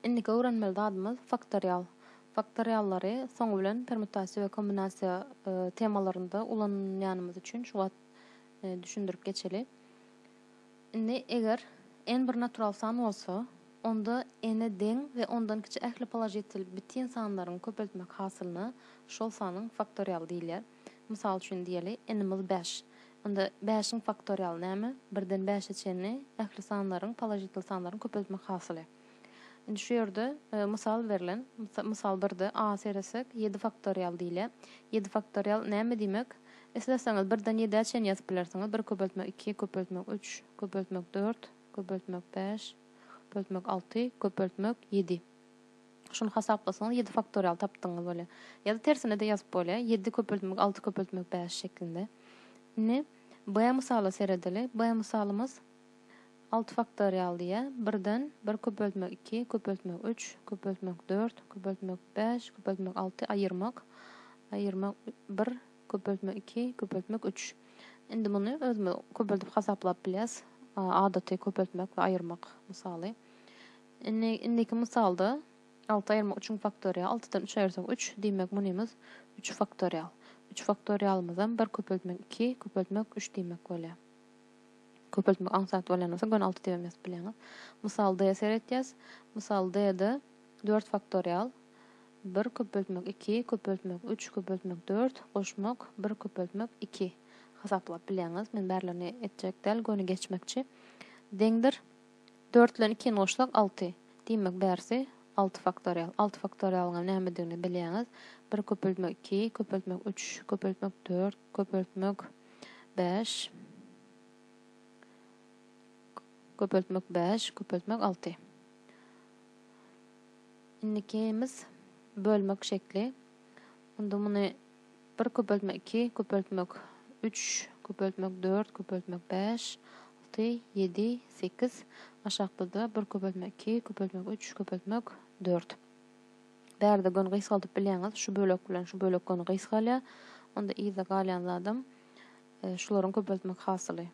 Indiki öwrenmeli zadymyz faktorial. Faktoriallary soňy bilen permutasiýa we kombinasiýa temalarynda ulanýanymyz üçin şu wagt düşündirip geçeli. Indi eger n bir natural san bolsa, onda n-e deň we ondan kiçi ähli položitel bitin sanlaryň köpeltmek hasylyna şol sanyň faktorialy diýilýär. Mysal üçin diýeli, n-ymiz bäş. Onda bäşiň faktorialy näme? Birden bäşe çenli ähli sanlaryň, položitl sanlaryň köpeltmek hasyly. Indi şu ýerde mysal berlen. Mysal birde a seresek, ýedi faktorial diýilýär. Ýedi faktorial näme diýmek? Isleseňiz birden ýedä çenli ýazyp bilersiňiz, bir köpeltmek iki, köpeltmek üç, köpeltmek dört, köpeltmek bäş, köpeltmek alty, köpeltmek ýedi. Şuny hasaplasaňyz ýedi faktorial tapdygyňyz bolýar. Ýa-da tersine-de ýazyp bolýar, ýedi köpeltmek alty köpeltmek bäş şeklinde. Indi B mysala seredeli. B mysalymyz alty faktorial diýýär. Birden bir köpeltmek iki, köpeltmek üç, köpeltmek dört, köpeltmek bäş, köpeltmek alty, aýyrmak, aýyrmak bir, köpeltmek iki, köpeltmek üç. Indi muny özümiz köpeldip hasaplap bilýäris. Adaty köpeltmek we aýyrmak mysaly. Indi indiki mysalda alty aýyrmak üçin faktorial, altydan üç aýyrsak üç, diýmek munymyz üç faktorial. Üç faktorialymyzam bir köpeltmek iki, köpeltmek üç diýmek bolýar. Köpeltmek aňsat bolýan bolsa göni alty diýibem ýazyp bilýäňiz. Mysal D seretýäs. Mysal D-de dört faktorial, bir köpeltmek iki, köpeltmek üç, köpeltmek dört, goşmak bir, köpeltmek iki hasaplap bilýäňiz. Men bärilerini etjek däl, göni geçmekçi. Deňdir. Dört bilen ikini goşsak, alty. Diýmek, bärsi alty faktorial. Alty faktorialyňam nämedigini bilýäňiz. Bir köpeltmek iki, köpeltmek üç, köpeltmek dört, köpeltmek bäş, köpeltmek bäş, köpeltmek alty. Indikimiz bölmek şekli. Onda muny Bir köpeltme iki, köpeltmek üç, köpeltmek dört, köpeltmek bäş, alty, ýedi, sekiz, aşakda-da bir köpeltme iki, köpeltmek üç, köpeltmek dört. Bärde göni gysgaldyp bilýäňiz, şu bölek bilen şu bölek göni gysgalýar. Onda yzda galýan zadam e, şularyň köpeltmek hasyly.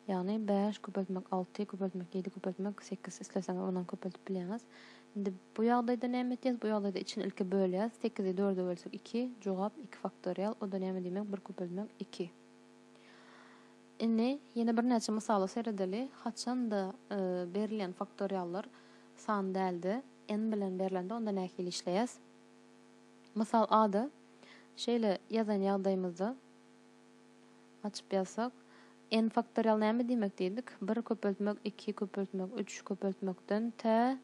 Ýagny bäş köpeltmek alty köpeltmek ýedi köpeltmek sekiz isleseňiz ondan köpeltip bilýäňiz. Indi bu ýagdaýda näme etýäs? Bu ýagdaýda içini ilki bölýäs. Sekizi dörde bölsek iki. Jogap iki faktorial. O-da näme diýmek? Bir köpeltmek iki. Indi ýene birnäçe mysala seredeli. Haçan-da berilýän faktoriallar san däldi. N bilen berlende onda nähili işleýäs? Mysal A-da şeýle ýazan ýagdaýymyzda. Açyp ýazsak, N faktorial näme diýmek diýdik? Bir köpeltmek, iki köpeltmek, üç köpeltmekden tä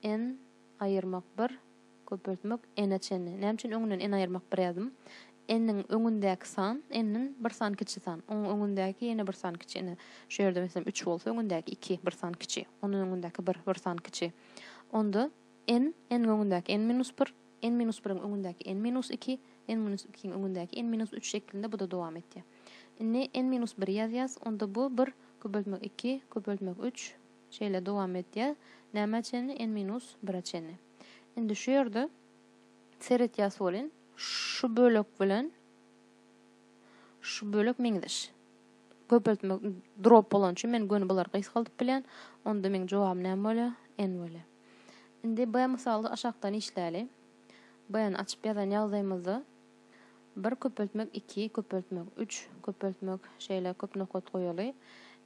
N aýyrmak bir köpeltmek N-e çenli. Näme üçin öňünden N aýyrmak bir ýazdym? N-iň öňündäki san N-den bir san kiçi san. Onuň öňündäki ýene bir san kiçi. Ine, şu ýerde meselem, üç bolsa, öňündäki iki bir san kiçi. Ondan öňündäki bir bir san kiçi. Onda. N, n-iň öňündäki n minus bir, n minus biriň öňündäki n minus iki, n minus ikiň öňündäki n minus üç şeklinde bu-da dowam etýär. Indi n minus biri ýazýas, onda bu bir, köpeltmek iki, köpeltmek üç, şeýle dowam edýär. Nämä çenli? N minus bire çenli. Indi şu ýerde seretýäs welin, şu bölek bilen şu bölek meňzeş. köpeltmek drop bolany üçin men göni bulary gysgaldyp bilýän. Onda meň jogabym näme bolýar? N bolýar. Indi B mysaly aşakdan işläli. B-ni açyp ýazan ýagdaýymyzda 1 köpeltmek 2 köpeltmek 3 köpeltmek şeýle köp nokat goýaly.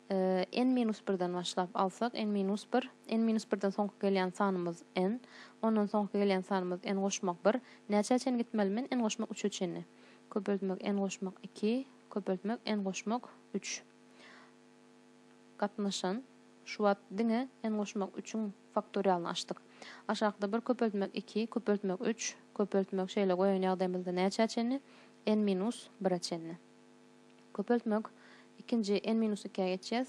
N-1-den başlap alsak, N-1, N-1-den soňky gelýän sanymyz N, ondan soňky gelýän sanymyz N goşmak 1. Näçä çenli gitmeli men? N goşmak 3-e çenli. Köpeltmek N goşmak 2, köpeltmek, en goşmak, üç. Gatnaşan, şu wagt diňe en goşmak üçiň faktorialyny açdyk. Aşakda bir köpeltmek iki, köpeltmek üç, köpeltmek şeýle goýan ýagdaýymyzda näçä çenli? N minus bire çenli. Köpeltmek ikinji N minus ikä geçýäs.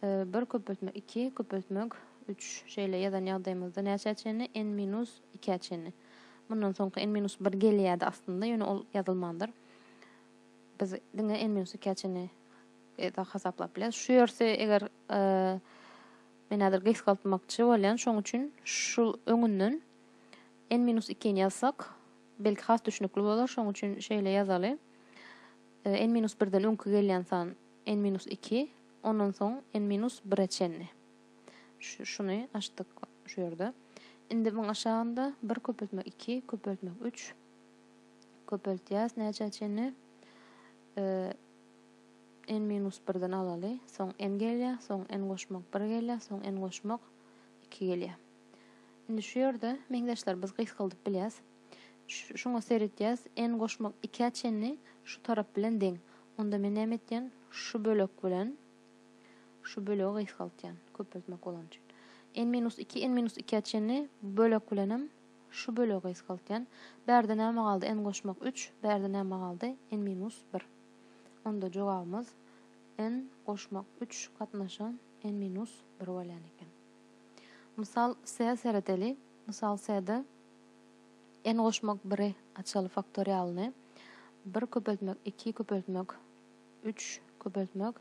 Bir köpeltmek iki, köpeltmek üç şeýle ýazan ýagdaýymyzda näçä çenli? N minus ikä çenli. Mundan soňky N minus bir gelýärdi aslynda, ýöne ol ýazylmandyr. Biz diňe n minus ikä çenli ezak hasaplap bileris. Şu ýersi eger men häzir gysgaltmakçy bolýan, şoň üçin şu öňünden n minus ikini ýazsak, belki has düşnükli bolar, şoň üçin şeýle ýazaly. n minus birden öňki gelýän san n minus iki, ondan soň n minus bire çenli. Şuny açdyk şu ýerde. Indi muň aşagynda bir köpeltmek iki, köpeltmek üç. Köpeltýäs näçä çenli? Ee, n minus birden alaly. Soň n gelýär, soň n goşmak bir gelýär, soň n goşmak iki gelýär. Indi şu ýerde meňzeşler biz gysgaldyp bilýäs. Ş- Şuňa seretýäs, n goşmak ikä çenli şu tarap bilen deň. Onda men näme etýän? Şu bölek bilen şu bölegi gysgaltýan, köpeltmek bolany üçin. n minus iki, n minus ikä çenli bölek bilen hem Şu bölegi gysgaltýan. Bärde näme galdy? N goşmak üç. Bärde näme galdy? N minus bir. Onda jogabymyz N goşmak üç gatnaşan N minus bir bolýan eken. Mysal S-e seredeli. Mysal S-de N goşmak biri açaly faktorialyny bir köpeltmek iki köpeltmek üç köpeltmek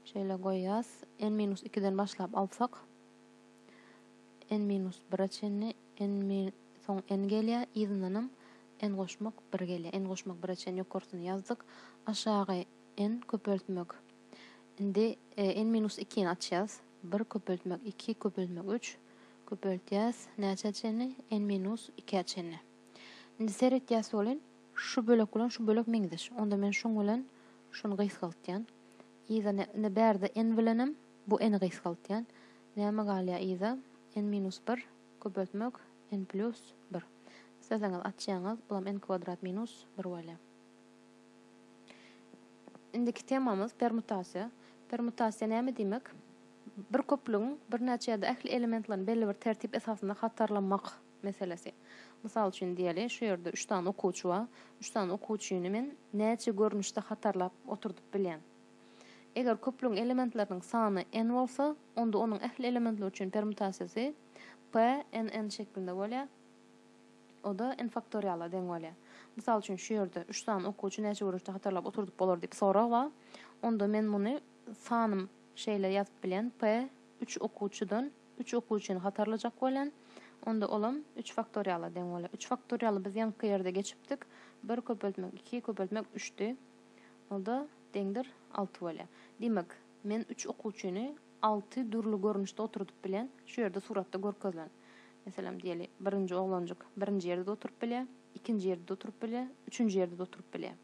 şeýle goýýas N minus ikiden başlap alsak n minus bire çenli n min soň n gelýär, yzyndanam n goşmak bir gelýär. N goşmak bire çenli ýokarsyny ýazdyk. Aşagy n köpeltmek indi n minus ikini açýas. Bir köpeltmek iki köpeltmek üç köpeltýäs näçä çenli? N minus ikä çenli. Indi seretýäs welin, şu bölek bilen şu bölek meňzeş. Onda men şuň bilen şuny gysgaltýan. Yzyna indi bärde n bilenem, Bu n-i gysgaltýan. Näme galýar yza? N minus bir, köpeltmek, n plýus bir. Isleseňiz açýaňyz, bulam n kwadrat minus bir bolýar. Indiki temamyz permutasiýa. Permutasiýa näme diýmek? Bir köplügiň birnäçe ýa-da ähli elementlerini belli bir tertip esasynda hatarlamak meselesi. Mysal üçin diýeli, şu ýerde üç sany okuwçy bar. Üç sany okuwçyny men näçe görnüşde hatarlap oturdyp bilýän? Eger küplügiň elementleriniň sany n bolsa, onda onuň ähli elementleri üçin permutasiýasy p n n şeklinde bolýar, o-da n faktoriala deň bolýar. Mysal üçin, şu ýerde üç sany okuwçy näçe görnüşde hatarlap oturdyp bolar diýip sorag bar. Onda men muny sanym şeýle ýazyp bilýän, p üç okuwçydan üç okuwçyny hatarlajak bolýan, onda olam üç faktoriala deň bolýar. Üç faktorialy biz ýaňky ýerde geçipdik, bir köpeltmek iki köpeltmek üçdi. Onda deňdir alty bolýar. Diýmek, men üç okuwçyny alty dürli görnüşde oturdyp bilýän, şu ýerde suratda görkezilen. Meselem, diýeli, birinji oglanjyk birinji ýerde-de oturyp bilýär, ikinji ýerde-de oturyp bilýär, üçünji ýerde-de oturyp bilýär.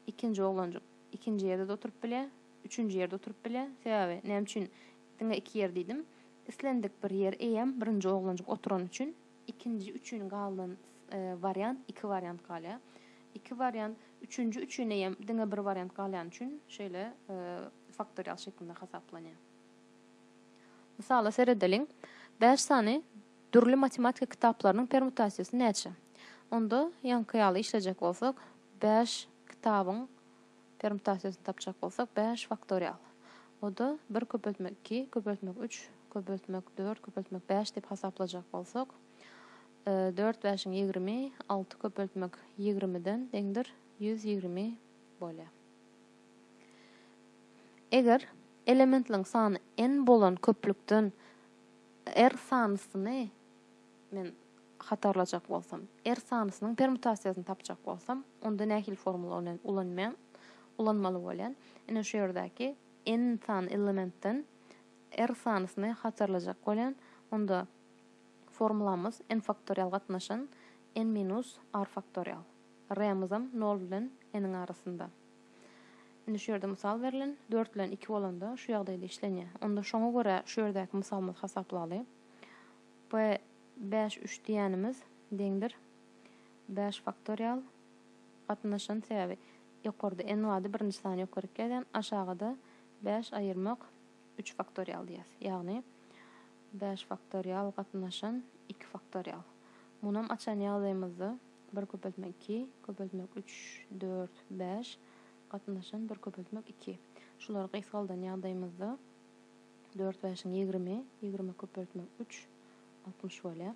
Ikinji oglanjyk ikinji ýerde-de oturyp bilýär, üçünji ýerde oturyp bilýär. Sebäbi näme üçin diňe iki ýer diýdim? Islendik bir ýer eýýäm birinji oglanjyk oturany üçin. Ikinji üçin galan wariant iki wariant galýar. Iki wariant üçünji üçine hem diňe bir wariant galýany üçin şeýle faktorial şeklinde hasaplanýar. Mysala seredeliň. Bäş sany dürli matematika kitaplarynyň permutasiýasy näçe? Onda ýaňky ýaly işlejek bolsak, bäş kitabyň Permutasiýasyny tapjak bolsak, bäş faktorial. O-da bir köpeltmek iki, köpeltmek üç, köpeltmek dört, köpeltmek bäş diýip hasaplajak bolsak, dört bäşiň ýigrimi, alty köpeltmek ýigrimiden deňdir, ýüz ýigrimi bolýar. Eger elementliň sany n bolan köplükden r sanysyny Men hatarlajak bolsam, R sanysynyň permutasiýasyny tapjak bolsam, onda nähili formulany ulanman, ulanmaly bolýan? Ine şu ýerdäki N sany elementden R sanysyny hatarlajak bolýan. Onda formulamyz N faktorial gatnaşan N minus R faktorial. R-myzam nol bilen N-iň arasynda. Indi şu ýerde mysal berlen, dört bilen iki bolanda şu ýagdaýda işlenýär. Onda şoňa görä şu ýerdäki mysalymyzy hasaplaly. B bäş üç diýýänimiz deňdir bäş faktorial gatnaşan sebäbi ýokarda n bardy birinji sany ýokaryk ýazýan aşagada bäş aýyrmak üç faktorial diýýäs ýagny bäş faktorial gatnaşan iki faktorial munam açan ýagdaýymyzda bir köpeltmek iki köpeltmek üç dört bäş gatnaşan bir köpeltmek iki şulary gysgaldan ýagdaýymyzda Dört bäşiň ýigrimi, ýigrimi köpeltmek üç, altmyş bolýar.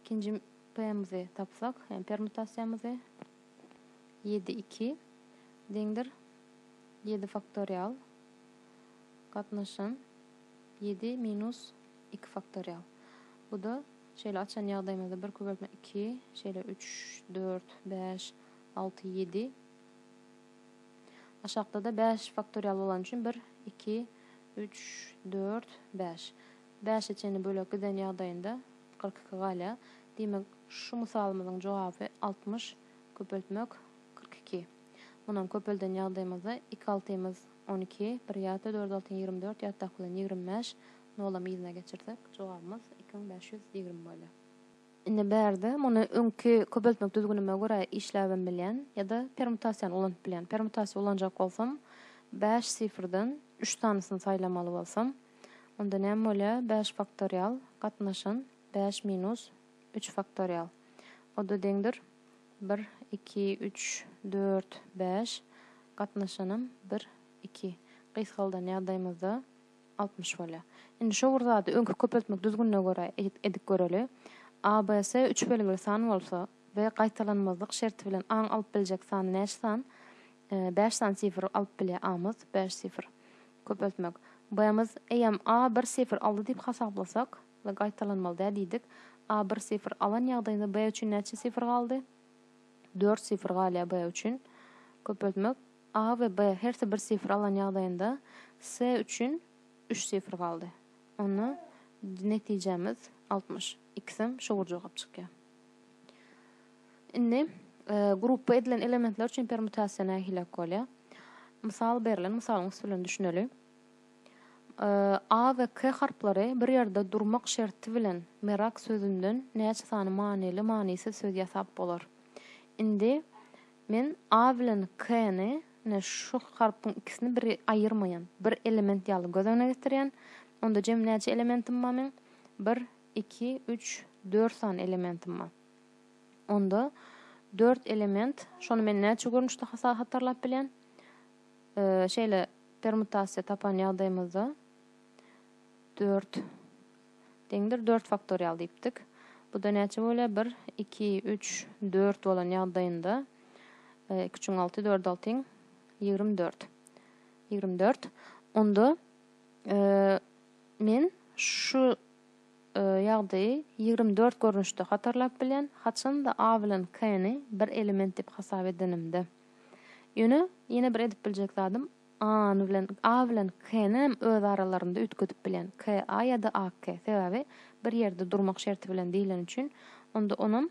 Ikinji p-mizi tapsak, ýagny permutasiýamyzy, ýedi iki deňdir ýedi faktorial gatnaşan ýedi minus iki faktorial. Bu-da şeýle açan ýagdaýymyzda bir köpeltmek iki, şeýle üç, dört, bäş, alty, ýedi, Aşakda-da bäş faktorial bolany üçin bir, iki, üç, dört, bäş. Bäşe çenli bölek giden ýagdaýynda kyrk iki galýar. Diýmek, şu mysalymyzyň jogaby altmyş köpeltmek kyrk iki. Munam köpelden ýagdaýymyzda iki altymyz on iki, bir ýatda dört altyn ýigrimi dört, ýatdaky bilen ýigrimi bäş, nolam yzyna geçirsek, jogabymyz iki müň bäş ýüz ýigrimi bolýar. Indi bärde muny öňki köpeltmek düzgünime görä işläbem bilýän ýa-da permutasiýany ulanyp bilýän. Permutasiýa ulanjak bolsam, bäş sifrden üç sanysyny saýlamaly bolsam, onda näme bolýar? Bäş faktorial gatnaşan bäş minus üç faktorial. O-da deňdir bir, iki, üç, dört, bäş, gatnaşanam bir, iki. Gysgaldan ýagdaýymyzda. altmyş bolýar. Indi şo bir zady öňki köpeltmek düzgünine görä edip göreli. ABS üç belgili san bolsa we gaýtalanmazlyk şerti bilen aň alyp biljek sany näçe san? Bäş sany sifr alyp bilýär amyz, bäş sifr. Köpeltmek. Bmyz eýem A bir sifr aldy diýip hasaplasak we gaýtalanmaly däl diýdik. A bir sifr alan ýagdaýynda B üçin näçe sifr galdy? Dört sifr galýar B üçin. Köpeltmek. A we B hersi bir sifr alan ýagdaýynda C üçin üç sifr galdy. Onda netijämiz altmyş. Ikisem şowur jogap çykýar. Indi grupba edilen elementler üçin permutasiýa nähilek bolýar? Mysal berlen mysalyň üsti bilen düşüneli. A we K harplary bir ýerde durmak şerti bilen merak sözünden näçe sany manyly, manysyz söz ýasap bolar? Indi Men A bilen K-ni, ine, şu harpyň ikisini bir aýyrmaýan, bir element ýaly göz öňüne getirýän. Onda jemi näçe elementim bar meň? Bir, iki, üç, dört sany elementim bar. Onda dört element, şony men näçe görnüşde hasa hatarlap bilýän? Şeýle permutasiýa tapan ýagdaýymyzda dört deňdir, dört faktorial diýipdik. Bu-da näçe bolýar? Bir, iki, üç, dört bolan ýagdaýynda iki üçiň alty, dört altyň ýigrimi dört. Ýigrimi dört. Onda men şu ýagdaýy ýigrimi dört görnüşde hatarlap bilýän, haçanda A bilen K-ni bir element diýip hasap edenimde. Ýöne ýene bir edip biljek zadym A-ny bilen, A bilen K-nem öz aralarynda üýtgedip bilýän. K-A ýa-da A-K. Sebäbi bir ýerde durmak şerti bilen diýleni üçin. Onda onam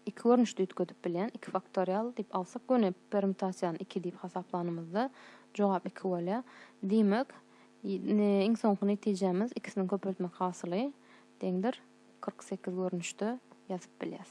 iki görnüşde üýtgedip bilýän. Iki faktorial diýip alsak göni permutasiýany iki diýip hasaplanymyzda jogap iki bolýar. Diýmek, ne, iň soňky netijämiz ikisiniň köpeltmek hasyly deňdir kyrk sekiz görnüşde ýazyp bilýäs.